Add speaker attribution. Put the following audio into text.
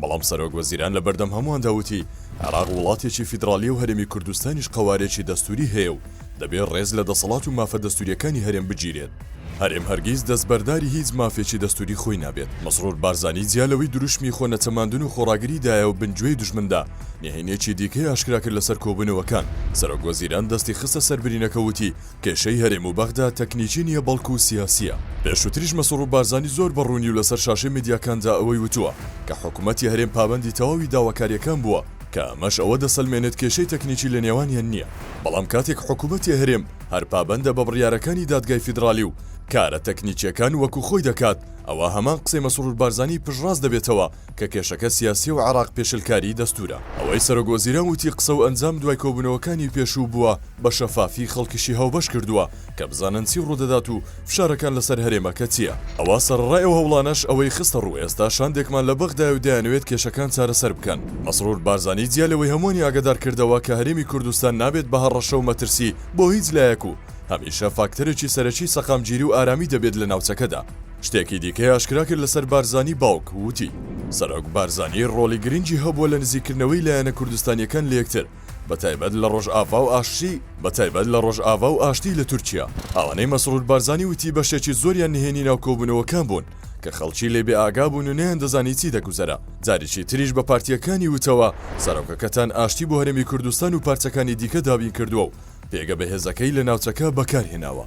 Speaker 1: بەڵام سەرۆک وەزیران لە بەردەم هەموواندا وتی، عێراق وڵاتێکی فیدراڵییە و هەرێمی کوردستانیش قەوارەیەکی دەستووری هەیە و دەبێت ڕێز لە دەسەڵات و مافە دەستوورییەکانی هەرێم بگیرێت. هەرێم هەرگیز دەستبەرداری هیچ مافێکی دەستووری خۆی نابێت. مەسرور بارزانی جیا لەوەی دروشمی خۆ نەچەماندن و خۆڕاگری دایە و بن گوێی دوژمندا، نهێنییەکی دیکەی ئاشکرا کرد لەسەر کۆبوونەوەکان، سەرۆک وەزیران دەستی خستە سەر برینەکە و وتی، کێشەی هەرێم و بەغدا تەکنیکی نییە بەڵکو سیاسییە، پێشوتریش مەسرور بارزانی زۆر بە ڕوونی و لەسەر شاشەی میدیاکاندا ئەوەی وتووە کە حکومەتی هەرێم پابەندی تەواوی داواکارییەکان بووە کە ئەمەش ئەوە دەسەلمێنێت کێشەی تەکنیکی لە نێوانیان نییە، بەڵام کاتێک حکومەتی هەرێم هەر پابەندە بە بڕیارەکانی دادگای فیدرالی و کارە تەکنیکییەکان وەکو خۆی دەکات ئەوا هەمان قسەی مەسرور بارزانی پشتڕاست دەبێتەوە کە کێشەکە سیاسیە و عێراق پێشلکاری دەستورە. ئەوەی سەرۆک وەزیران وتی قسە و ئەنجام دوای کۆبونەوەکانی پێشوو بوە بە شەفافی خەڵکیشی هاوبەش کردوە کە بزانن چی ڕودەدات و فشارەکان لەسەر هەرێمەکە چیە ئەوا سەرەڕای ئەو هەوڵانەش ئەوەی خستە ڕو ئێستا شاندێکمان لە بەغدایە و دەیانەوێت کێشەکان چارەسەر بکەن. مەسرور بارزانی جیا لەوەی هەموانی ئاگەدار کردەوە کە هەرێمی کوردستان نابێت بە هەڕەشە و مەترسی بۆ هیچ لایەک و هەمیشە فاکتەرێکی سەرەکی سەقامگیری و ئارامی دەبێت لە ناوچەکەدا، شتێکی دیکەی ئاشکرا کرد لەسەر بارزانی باوک وتی، سەرۆک بارزانی ڕۆڵی گرنگی هەبووە لە نزیککردنەوەی لایەنە کوردستانییەکان لە یەکتر بەتایبەت لە ڕۆژئاڤا و ئاشتی بەتایبەت لە ڕۆژئاڤا و ئاشتی لە تورکیا ئەوانەی مەسرور بارزانی وتی بەشێکی زۆریان نهێنی ناو کۆبوونەوەکان بوون کە خەڵکی لێ بێ ئاگا بوون و نەیاندەزانی چی دەگوزەرا جاریکی تریش بە پارتییەکانی وتەوە سەرۆکەکەتان ئاشتی بۆ هەرێمی کوردستان و پارچەکانی دیکە دابین کردووە و پێگە بەهێزەکەی لە ناوچەکە بەکارهێناوە.